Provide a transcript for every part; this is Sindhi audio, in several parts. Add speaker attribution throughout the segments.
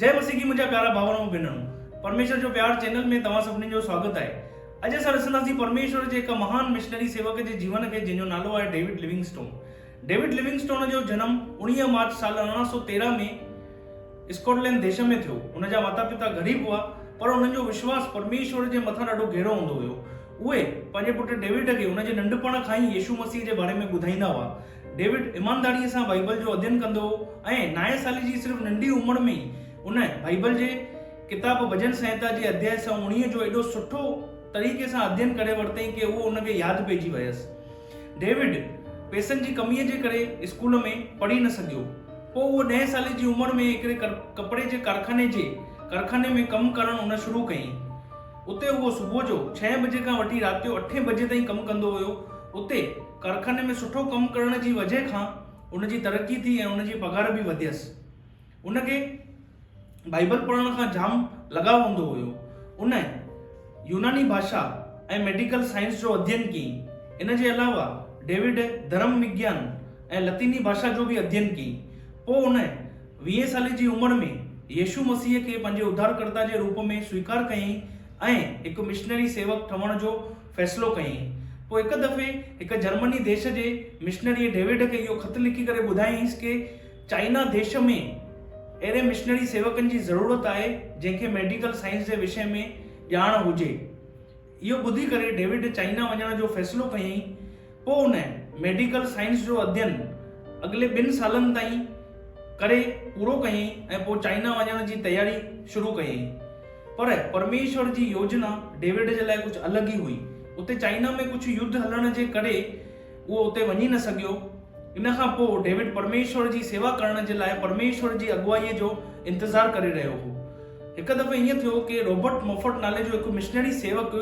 Speaker 1: جئي مسيح جي منهنجا پيارا ڀائر ۽ ڀينرون پرميشور جو پيار چينل ۾ توهان سڀني جو سواگت آهي اڄ اسان رسنداسين پرميشور جي هڪ مهان مشنري سيوڪ جي جيون کي جنهن جو نالو آهي ڊيوڊ ليونگسٽون ڊيوڊ ليونگسٽون جو جنم اوڻيهه مارچ سال ارڙهن سو تيرهن ۾ اسڪاٽلينڊ ديش ۾ ٿيو هن جا ماتا پتا غريب هئا پر انهن جو وشواس پرميشور جي مٿان ڏاڍو گهرو هوندو هيو اهي پنهنجي پٽ ڊيوڊ کي ان جي ننڍپڻ کان ئي يسوع مسيح جي باري ۾ ٻڌائيندا هئا ڊيوڊ ايمانداڙيء سان بائيبل جو اڌين ڪندو هو ۽ نائين سالي جي صرف ننڍي عمر ۾ ئي ان بائيبل جي ڪتاب ڀڄن سنهتا جي اڌيائي سؤ اوڻيهه جو ايڏو سٺو طريقي سان اڌين ڪري ورتائين ڪي اهو ان کي ياد پئجي ويس. ڊيوڊ پئسن جي ڪميء جي ڪري اسڪول ۾ پڙهي نه سگهيو. پوء اهو ڏهين سالي جي عمر ۾ هڪڙي ڪپڙي جي ڪارخاني جي ڪارخاني ۾ ڪم ڪرڻ ان شروع ڪيائين. اتي هو صبح جو ڇهين بجي کان وٺي رات جو اٺين بجي تائين ڪم ڪندو هيو. اتي ڪارخاني ۾ سٺو ڪم ڪرڻ جي وجهه کان ان جي ترقي ٿي ۽ ان جي پگهار به وڌيس. ان کي بائيبل پڙهڻ کان جام لڳاء هوندو هيو. ان يوناني ڀاشا ۽ ميڊيڪل سائنس جو اڌين ڪيئين. ان جي علاوه ڊيوڊ ڌرم وگيان ۽ لطيني ڀاشا جو به اڌين ڪيئين. پوء ان ويهين سالي جي عمر ۾ يسوع مسيح کي پنهنجي اڌارڪرتا جي روپ ۾ سويڪار ڪيائين ۽ هڪ مشنري سيوڪ ٺهڻ جو فيصلو ڪيائين. پوء هڪ دفعي هڪ جرمني ديش جي مشنريء ڊيوڊ کي اهو خط لکي ڪري ٻڌايائينس ڪي چائنا ديش ۾ اهڙي مشنري سيوڪن جي ضرورت آهي جنهن کي ميڊيڪل سائنس جي وشي ۾ ڄاڻ هجي. اهو ٻڌي ڪري ڊيوڊ چائنا وڃڻ جو فيصلو ڪيائين. پوء هن ميڊيڪل سائنس جو اڌين اڳلي ٻن سالن تائين ڪري پورو ڪيائين ۽ پوء چائنا وڃڻ جي تياري شروع ڪيائين. پر پرميشور جي يوجنا ڊيوڊ جي لاء ڪجهه الڳ ئي هئي. اتي چائنا ۾ ڪجهه يڌ هلڻ جي ڪري، اهو اتي وڃي نه سگهيو. ان کان پوء ڊيوڊ پرميشور جي سيوا ڪرڻ جي لاء پرميشور جي اڳواييء جو انتظار ڪري رهيو هو. هڪ دفعي ائين ٿيو ڪي رابرٽ موفٽ نالي جو هڪ مشنري سيوڪ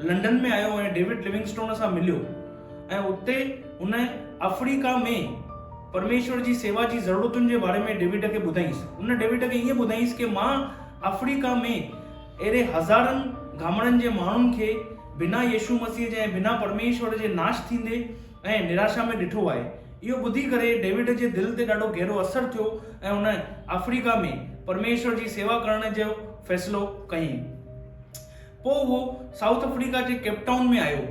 Speaker 1: لنڊن ۾ آيو ۽ ڊيوڊ لوئنگسٽون سان مليو ۽ اتي هن آفريڪا ۾ پرميشور جي سيوا جي ضرورتن جي باري ۾ ڊيوڊ کي ٻڌائينس. هن ڊيوڊ کي ائين ٻڌائينس ڪي مان آفريڪا ۾ اهڙي هزارن گهامڙن جي ماڻهن کي بنا يسوع مسيح جي ۽ بنا پرميشور جي ناش ٿيندي ۽ نراشا ۾ ڏٺو آهي. اهو ٻڌي ڪري ڊيوڊ جي دل تي ڏاڍو گهرو اثر ٿيو ۽ هن آفريڪا ۾ پرميشور جي سيوا ڪرڻ جو فيصلو ڪيائين. پوء اهو سائوٿ آفريڪا جي ڪيپ ٽائون ۾ آيو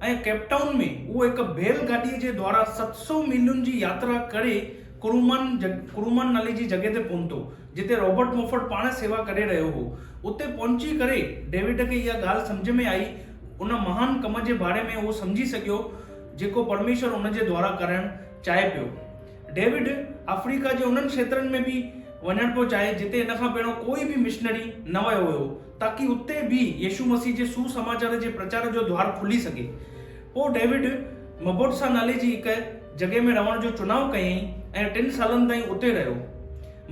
Speaker 1: ۽ ڪيپ ٽائون ۾ اهو هڪ بيل گاڏيء جي دوارا ست سؤ ميلن جي ياترا ڪري ڪرومان، Kuruman، نالي جي جڳهه تي پهتو. جتي رابرٽ موفٽ پاڻ سيوا ڪري رهيو هو، اتي پهچي ڪري ڊيوڊ کي اها ڳالهه سمجهه ۾ آئي، ان مهان ڪم جي باري ۾ هو سمجهي سگهيو، جيڪو پرميشور هن جي دوارا ڪرڻ چاهي پيو. ڊيوڊ آفريڪا جي انهن کيترن ۾ به وڃڻ پيو چاهي، جتي ان کان پهريون ڪوئي به مشنري نه ويو هيو، تاڪي اتي به يسوع مسيح جي سوسماچار جي پرچار جو دوار کلي سگهي. پوء ڊيوڊ مبوٽسا نالي جي هڪ جڳهه ۾ رهڻ جو چناء ڪيائين ۽ ٽن سالن تائين اتي رهيو.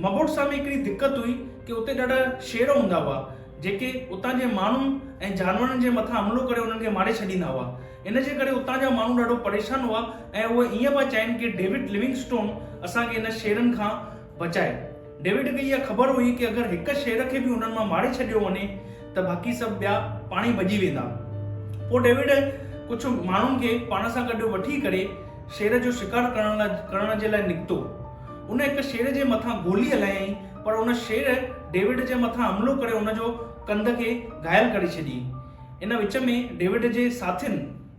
Speaker 1: مبوٽسا ۾ هڪڙي دقت هئي ڪي اتي ڏاڍا شير هوندا هئا، جيڪي اتان جي ماڻهن ۽ جانورن جي مٿان حملو ڪري انهن کي ماري ڇڏيندا هئا. ان جي ڪري اتان جا ماڻهو ڏاڍو پريشان هئا ۽ اهي ائين پيا چاهين ڪي ڊيوڊ لوينگسٽون اسان کي انهن شيرن کان بچائي. ڊيوڊ کي اها خبر هئي ڪي اگر هڪ شير کي به انهن مان ماري ڇڏيو وڃي ته باقي سڀ ٻيا پاڻ ئي ڀڄي ويندا. پوء ڊيوڊ ڪجهه ماڻهن کي پاڻ سان گڏ وٺي ڪري شير جو شڪار ڪرڻ لاء ڪرڻ جي لاء نڪتو. ان هڪ شير جي مٿان گولي هلايائين پر ان شير ڊيوڊ جي مٿان حملو ڪري ان جو ڪنڌ کي گهايل ڪري ڇڏيئين. ان وچ ۾ ڊيوڊ جي ساٿين.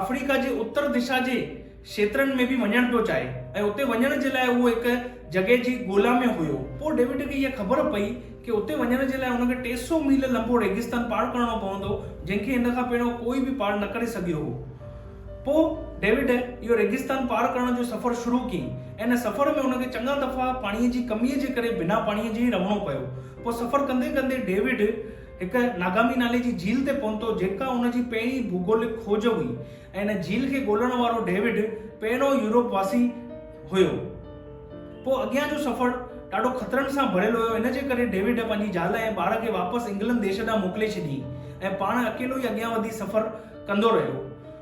Speaker 1: آفريڪا جي اتر دشا جي کيترن ۾ به وڃڻ پيو چاهي ۽ اتي وڃڻ جي لاء اهو هڪ جڳهه جي ڳولا ۾ هيو. پوء ڊيوڊ کي اها خبر پئي ڪي اتي وڃڻ جي لاء هن کي ٽي سؤ ميل لنبو ريگستان پار ڪرڻو پوندو جنهن کي هن کان پهريون ڪوئي به پار نه ڪري سگهيو هو. پوء ڊيوڊ اهو ريگستان پار ڪرڻ جو سفر شروع ڪيئي ۽ ان سفر ۾ هن کي چڱا دفعا پاڻيء جي ڪميء جي ڪري بنا پاڻيء جي ئي رهڻو پيو. پوء سفر ڪندي ڪندي ڊيوڊ. هڪ ناگامي نالي جي جھيل تي پهتو جيڪا ان جي پهرين ڀوڳولڪ کوج هئي ۽ ان جھيل کي ڳولڻ وارو ڊيوڊ پهريون يورپ واسي هيو. پوء اڳيان جو سفر ڏاڍو خطرن سان ڀريل هيو ان جي ڪري ڊيوڊ پنهنجي زال ۽ ٻار کي واپس انگلنڊ ديش ڏانهن موڪلي ڇڏيئين ۽ پاڻ اڪيلو ئي اڳيان وڌي سفر ڪندو رهيو.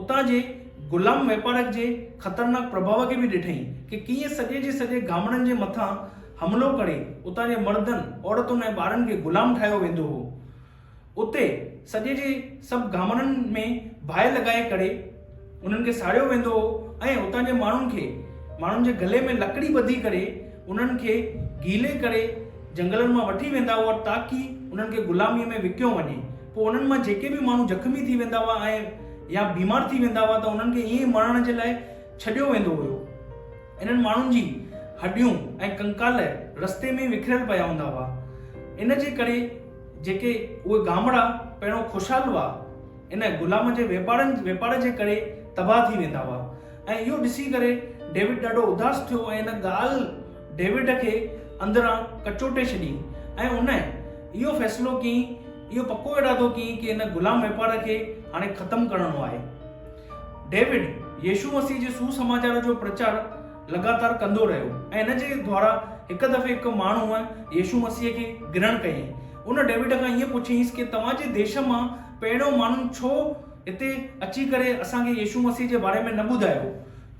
Speaker 1: اتان جي غلام واپارڪ جي خطرناڪ پرڀاء کي به ڏٺائين ڪي ڪيئن سڄي جي سڄي گامڙن جي مٿان حملو ڪري اتان جي مردن، عورتن ۽ ٻارن کي غلام ٺاهيو ويندو هو. اتي سڄي جي سڀ گامڙن ۾ باهه لڳائي ڪري انهن کي ساڙيو ويندو هو ۽ اتان جي ماڻهن کي ماڻهن جي گلي ۾ لڪڙي ٻڌي ڪري انهن کي گيلي ڪري جنگلن مان وٺي ويندا هئا تاڪي انهن کي غلاميء ۾ وڪيو وڃي پوء انهن مان جيڪي به ماڻهو زخمي ٿي ويندا هئا ۽ يا بيمار ٿي ويندا هئا ته انهن کي ائين ئي مڙهڻ جي لاء ڇڏيو ويندو هيو. انهن ماڻهن جي هڏيون ۽ ڪنڪال رستي ۾ ئي وکريل پيا هوندا هئا. ان جي ڪري جيڪي اهي گامڙا پهريون خوشحال هئا، ان غلام جي واپارن واپار جي ڪري تباهه ٿي ويندا هئا ۽ اهو ڏسي ڪري ڊيوڊ ڏاڍو اداس ٿيو ۽ ان ڳالهه ڊيوڊ کي اندران ڪچوٽي ڇڏيئين ۽ هن اهو فيصلو ڪيئين، اهو پڪو ارادو ڪيئين ته هن غلام واپار کي هاڻي ختم ڪرڻو آهي. ڊيوڊ يسوع مسيح جي سوسماچار جو پرچار لڳاتار ڪندو رهيو ۽ هن جي دوارا هڪ دفعي هڪ ماڻهوء يسوع مسيح کي گرهڻ ڪيئين. ان ڊيوڊ کان ائين پڇيائينس ڪي توهان جي ديش مان پهريون ماڻهن ڇو هتي اچي ڪري اسان کي يسوع مسيح جي باري ۾ نه ٻڌايو؟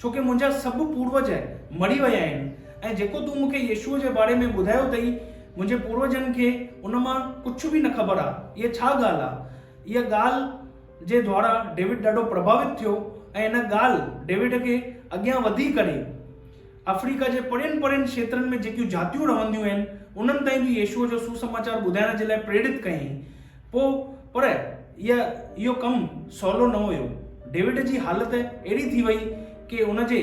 Speaker 1: ڇو ڪي منهنجا سڀ پوروج مري ويا آهن ۽ جيڪو تون مونکي يسوع جي باري ۾ ٻڌايو اٿئي، منهنجي پوروجن کي ان مان ڪجهه به نه خبر آهي. اها ڇا ڳالهه آهي؟ اها ڳالهه جي دواران ڊيوڊ ڏاڍو پرڀاوت ٿيو ۽ ان ڳالهه ڊيوڊ کي اڳيان وڌي ڪري آفريڪا جي پرين پرين کيترن ۾ جيڪيون جاتيون رهنديون آهن، انهن تائين به يسوع جو سسماچار ٻڌائڻ جي لاء پريرت ڪيائين. پوء پر اها اهو ڪم سولو نه هيو. ڊيوڊ جي حالت اهڙي ٿي وئي ڪي ان جي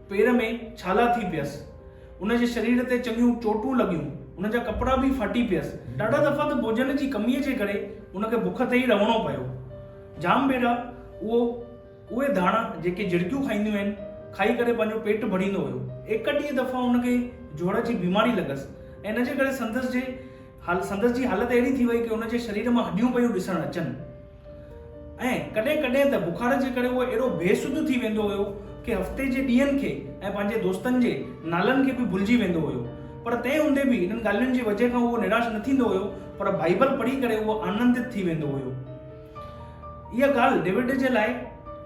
Speaker 1: پير ۾ ڇالا ٿي پيس. ان جي شرير تي چڱيون چوٽون لڳيون. ان جا ڪپڙا به ڦاٽي پيس. ڏاڍا دفعا ته ڀوڄن جي ڪميء جي ڪري ان کي بک تي ئي رهڻو پيو. جام ڀيرا اهو اهي ڌاڻا جيڪي جهرڪيون کائينديون آهن، کائي ڪري پنهنجو پيٽ ڀريندو هيو. ايڪ ڏينهن دفعا ان کي جوڙ جي بيماري لڳس ۽ ان جي ڪري سندس جي هل سندس جي حالت اهڙي ٿي وئي ڪي ان جي شرير مان هڏيون پيون ڏسڻ اچن ۽ ڪڏهن ڪڏهن ته بخار جي ڪري هو اهڙو بي سڌ ٿي ويندو هيو ڪي هفتي جي ڏينهن کي ۽ پنهنجي دوستن جي نالن کي به ڀلجي ويندو هيو پر تنهن هوندي به انهن ڳالهين جي وجهه کان اهو نراش نه ٿيندو هيو پر بائيبل پڙهي ڪري اهو آنندت ٿي ويندو هيو اها ڳالهه ڊيوڊ جي لاء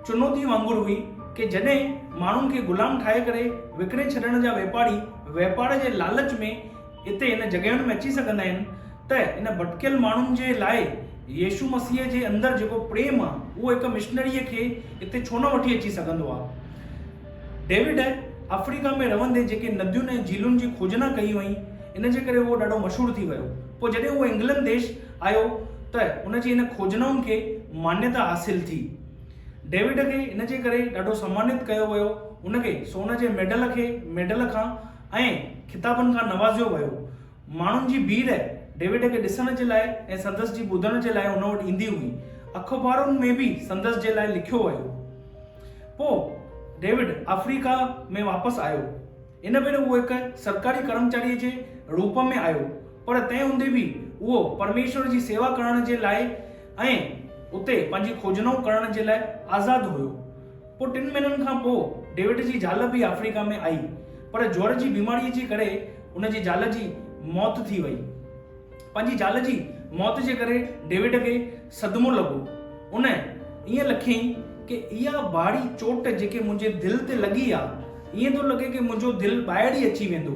Speaker 1: چنوتي وانگر هئي ڪي جڏهن ماڻهن کي غلام ٺاهي ڪري وڪڻي ڇڏڻ جا واپاري واپار جي لالچ ۾ هتي هن جڳهين ۾ اچي سگهندا آهن ته ان ڀٽڪيل ماڻهن جي لاء يسوع مسيح جي اندر جيڪو پريم آهي اهو هڪ مشنريء کي اتي ڇو نه وٺي اچي سگهندو آهي. ڊيوڊ آفريڪا ۾ رهندي جيڪي نديون ۽ جهيلن جي کوجنا ڪئي هئائين ان جي ڪري اهو ڏاڍو مشهور ٿي ويو. پوء جڏهن اهو انگلنڊ ديش آيو ته ان جي ان کوجنائن کي مانيتا حاصل ٿي. ڊيوڊ کي ان جي ڪري ڏاڍو سمانيت ڪيو ويو ان کي سون جي ميڊل کي ميڊل کان ۽ خطابن کان نوازيو ويو. ماڻهن جي ڀيڙ ڊيوڊ کي ڏسڻ جي لاء ۽ سندس جي ٻڌڻ جي لاء هن وٽ ايندي هئي. اخبارن ۾ به سندس جي لاء لکيو ويو. پوء ڊيوڊ آفريڪا ۾ واپس آيو. ان ڀيري اهو هڪ سرڪاري ڪرمچاريء جي روپ ۾ آيو، پر تنهن هوندي به اهو پرميشور جي سيوا ڪرڻ جي لاء ۽ اتي پنهنجي کوجنائون ڪرڻ جي لاء آزاد هيو. پوء ٽن مهينن کان پوء ڊيوڊ جي زال به آفريڪا ۾ آئي پر جوئر جي بيماريء جي ڪري ان جي زال جي موت ٿي وئي. پنهنجي زال جي موت جي ڪري ڊيوڊ کي صدمو لڳو. ان ائين لکيائين ڪي اها ڀاڙي چوٽ جيڪي منهنجي دل تي لڳي آ، ائين ٿو لڳي ڪي منهنجو دل ٻاهر ئي اچي ويندو.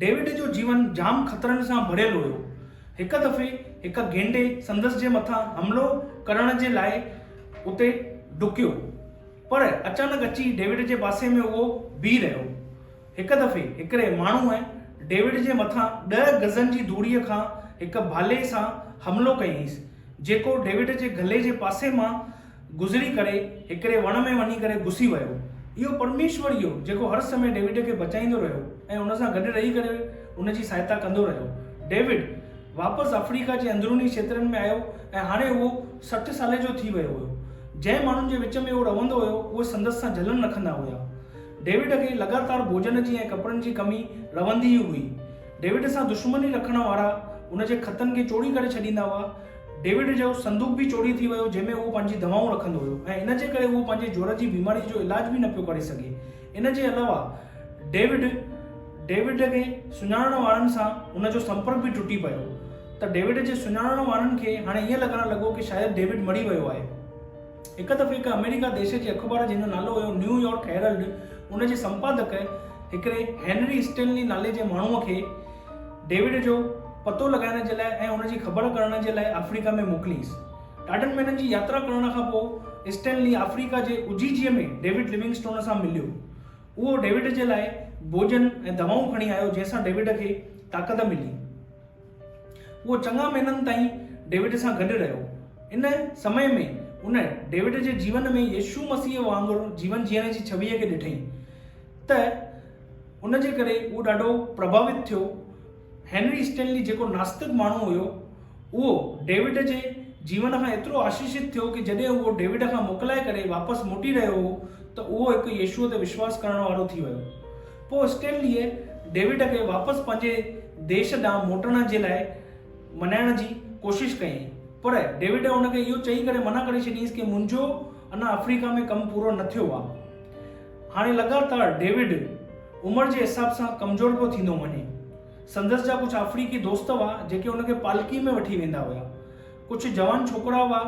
Speaker 1: ڊيوڊ جو جيون جام خطرن سان ڀريل هيو. هڪ دفعي هڪ گينڊي سندس جي مٿان حملو ڪرڻ جي لاء اتي ڊڪيو پر اچانڪ اچي ڊيوڊ جي پاسي ۾ اهو بيهي رهيو. هڪ دفعي هڪڙي ماڻهوء ڊيوڊ جي مٿان ڏهه گزن جي دوڙي کان هڪ ڀالي سان حملو ڪيائينس جيڪو ڊيوڊ جي گلي جي پاسي مان گذري ڪري هڪڙي وڻ ۾ وڃي ڪري گسي ويو. اهو پرميشور ئي هو جيڪو هر سمي ڊيوڊ کي بچائيندو رهيو ۽ ان سان گڏ رهي ڪري ان جي سهائتا ڪندو رهيو. ڊيوڊ واپس آفريڪا جي اندروني کيترن ۾ آيو ۽ هاڻي اهو سٺ سالي جو ٿي ويو هيو. جنهن ماڻهن جي وچ ۾ اهو رهندو هيو اهي سندس سان جلن رکندا هيا. ڊيوڊ کي لڳاتار ڀوڄن جي ۽ ڪپڙن جي ڪمي رهندي ئي هئي. ڊيوڊ سان دشمني رکڻ وارا ان جي خطن کي چوڙي ڪري ڇڏيندا هئا. ڊيوڊ جو صندوق به چوري ٿي ويو جنهن ۾ اهو پنهنجي دوائون رکندو هيو ۽ ان جي ڪري اهو پنهنجي جوڙ جي بيماري جو علاج به نه پيو ڪري سگهي ان جي علاوه ڊيوڊ ڊيوڊ کي سڃاڻڻ وارن سان ان جو سمپرڪ به ٽٽي پيو ته ڊيوڊ جي سڃاڻڻ وارن کي هاڻي ائين لڳڻ لڳو ڪي شايد ڊيوڊ مري ويو آهي هڪ دفعي هڪ آمريڪا ديش جي اخبار جنهن جو نالو هيو نيو يارڪ هيرلڊ ان جي سمپادڪ هڪڙي هينري اسٽينلي نالي جي ماڻهوء کي ڊيوڊ جو پتو لڳائڻ جي لاء ۽ ان جي خبر ڪرڻ جي لاء آفريڪا ۾ موڪليس. ڏاڍن مهينن جي ياترا ڪرڻ کان پوء اسٽينلي آفريڪا جي اجيجيء ۾ ڊيوڊ ليونگسٽون سان مليو. اهو ڊيوڊ جي لاء ڀوڄن ۽ دوائون کڻي آيو جنهن سان ڊيوڊ کي طاقت ملي. اهو چڱا مهينن تائين ڊيوڊ سان گڏ رهيو. ان سمئي ۾ ان ڊيوڊ جي جيون ۾ يسوع مسيح وانگر جيون جيئڻ جي ڇويء کي ڏٺئي ته، ان جي ڪري هو ڏاڍو پرڀاوت ٿيو. هينري اسٽينلي جيڪو ناستڪ ماڻهو هيو، اهو ڊيوڊ جي جيون کان ايترو آشيشت ٿيو ڪي جڏهن اهو ڊيوڊ کان موڪلائي ڪري واپس موٽي رهيو هو ته اهو هڪ يشوء تي وشواس ڪرڻ وارو ٿي ويو. پوء اسٽينليء ڊيوڊ کي واپس پنهنجي ديش ڏانهن موٽڻ جي لاء منائڻ جي ڪوشش ڪيائين، پر ڊيوڊ ان کي اهو چئي ڪري منع ڪري ڇڏيائينس ڪي منهنجو اڃا آفريڪا ۾ ڪم پورو نه ٿيو آ. هاڻي لڳاتار ڊيوڊ عمر جي حساب سان ڪمزور پيو ٿيندو وڃي. سندس جا ڪجهه آفريڪي دوست هئا جيڪي هن کي پالڪي ۾ وٺي ويندا هيا. ڪجهه جوان ڇوڪرا هئا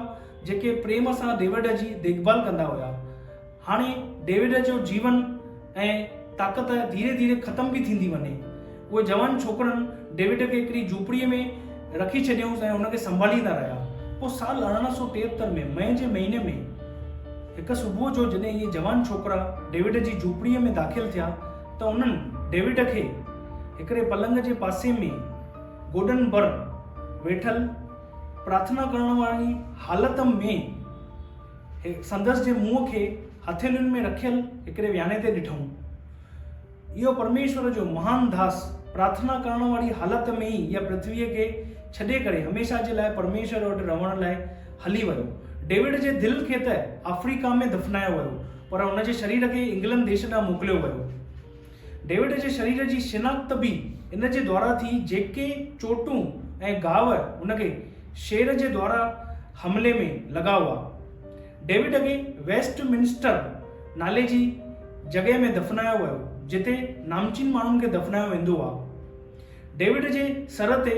Speaker 1: جيڪي پريم سان ڊيوڊ جي ديکڀال ڪندا هيا. هاڻي ڊيوڊ جو جيون ۽ طاقت ڌيري ڌيري ختم پي ٿيندي وڃي. اهي جوان ڇوڪرن ڊيوڊ کي هڪڙي جهوپڙيء ۾ رکي ڇڏيائونس ۽ هن کي سنڀاليندا رهيا. پوء سال ارڙهن سؤ ٽيهتر ۾ مئي جي مهيني ۾ هڪ صبح جو جڏهن اهي جوان ڇوڪرا ڊيوڊ جي جهوپڙيء ۾ داخل ٿيا ته انهن ڊيوڊ کي هڪڙي پلنگ جي پاسي ۾ گوڏن ڀر ويٺل پرارٿنا ڪرڻ واري حالت ۾ سندس جي منهن کي هٿيلين ۾ رکيل هڪڙي وياڻي تي ڏٺائون. اهو پرميشور جو مهان داس پرارٿنا ڪرڻ واري حالت ۾ ئي اها پرٿويء کي ڇڏي ڪري هميشه جي لاء پرميشور وٽ رهڻ لاء هلي ويو. ڊيوڊ جي دل کي ته آفريڪا ۾ دفنايو ويو، پر هن جي شرير کي انگلنڊ ديس ڏانهن موڪليو ويو. ڊيوڊ جي شرير جي شناخت به ان جي دوارا ٿي، جيڪي چوٽون ۽ گهاء هن کي شير جي دوارا حملي ۾ لڳا هئا. ڊيوڊ کي ويسٽ منسٽر نالي جي جڳهه ۾ دفنايو ويو، جتي نامچين ماڻهن کي دفنايو ويندو آهي. ڊيوڊ جي سر تي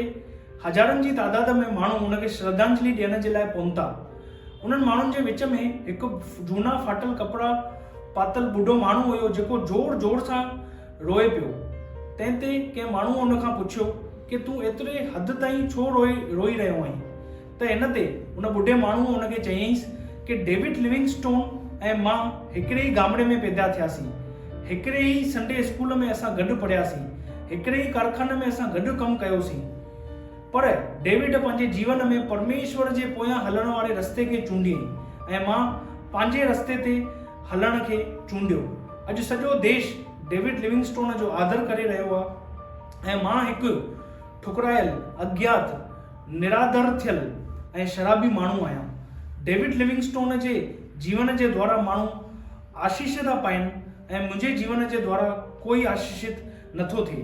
Speaker 1: هزارن جي تعداد ۾ ماڻهو هن کي شرڌانجلي ڏيڻ جي لاء پهتا. انهن ماڻهن جي وچ ۾ هڪ جهونا ڦاٽل ڪپڙا پاتل ٻڍو ماڻهو هيو جيڪو زور زور سان روئي پيو. تنهن تي ڪنهن ماڻهوء ان کان پڇيو ڪي تون ايتري حد تائين ڇو روئي رهيو آهين؟ ته ان تي ان ٻڍي ماڻهوء ان کي چيائينس ڪي ڊيوڊ لوينگسٽون ۽ مان هڪڙي ئي ڳامڙي ۾ پيدا ٿياسين. هڪڙي ئي سنڊي اسڪول ۾ اسان گڏ پڙهياسين. هڪڙي ئي ڪارخاني ۾ اسان گڏ ڪم ڪيوسين. پر ڊيوڊ پنهنجي جيون ۾ پرميشور جي پويان هلڻ واري رستي کي چونڊيائين ۽ مان پنهنجي رستي تي هلڻ کي چونڊيو. اڄ سڄو ديش ڊيوڊ لوينگسٽون جو آڌر ڪري رهيو آهي ۽ مان هڪ ٺڪرايل، اگيات، نرادر ٿيل ۽ شرابي ماڻهو آهيان. ڊيوڊ ليونگسٽون جي جيون جي دوارا ماڻهو آشيش ٿا پائين ۽ منهنجي جيون جي دوارا ڪوئي آشيشت نه ٿو ٿئي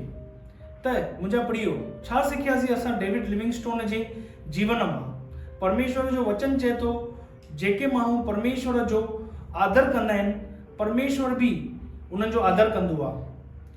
Speaker 1: ته منهنجا پريو، ڇا سکياسين اسان ڊيوڊ ليونگسٽون جي جيون مان؟ پرميشور جو وچن چئي ٿو جيڪي ماڻهو پرميشور جو آدر ڪندا آهن، پرميشور به انهن جو آدر ڪندو آهي.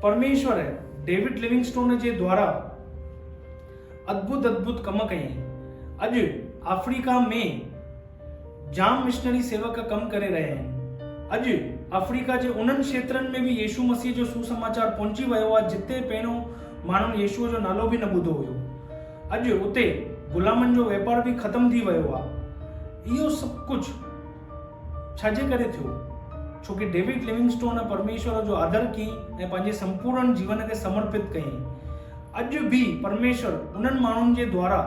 Speaker 1: پرميشور ڊيوڊ ليونگسٽون جي دوارا ادڀت ادڀت ڪم ڪيائين. اڄ آفريڪا ۾ جام مشنري سيوڪ ڪم ڪري رهيا آهن. اڄ آفريڪا جي انهن کيترن ۾ به يسوع مسيح جو سوسماچار پهچي ويو آهي جتي پهريون ماڻهن يسوع جو نالو به نه ٻڌو هيو. اڄ اتي غلامن جو واپار به ختم ٿي ويو آهي. اهو سڀ ڪجهه. ڇا جي ڪري ٿيو؟ ڇو ڪي ڊيوڊ ليونگسٽون پرميشور جو آدر ڪئي ۽ پنهنجي سمپورڻ جيون کي سمرپت ڪيائين. اڄ به پرميشور انهن ماڻهن جي دوارا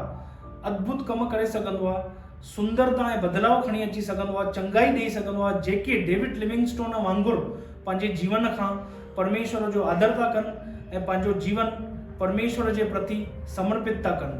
Speaker 1: اڌڀت ڪم ڪري سگهندو آهي، سندرتا ۽ بدلاء کڻي اچي سگهندو آهي، چڱائي ڏيئي سگهندو آهي، جيڪي ڊيوڊ ليونگسٽون وانگر پنهنجي جيون کان پرميشور جو آدر ٿا ڪن ۽ پنهنجو جيون پرميشور جي پرتي سمرپت ٿا ڪن.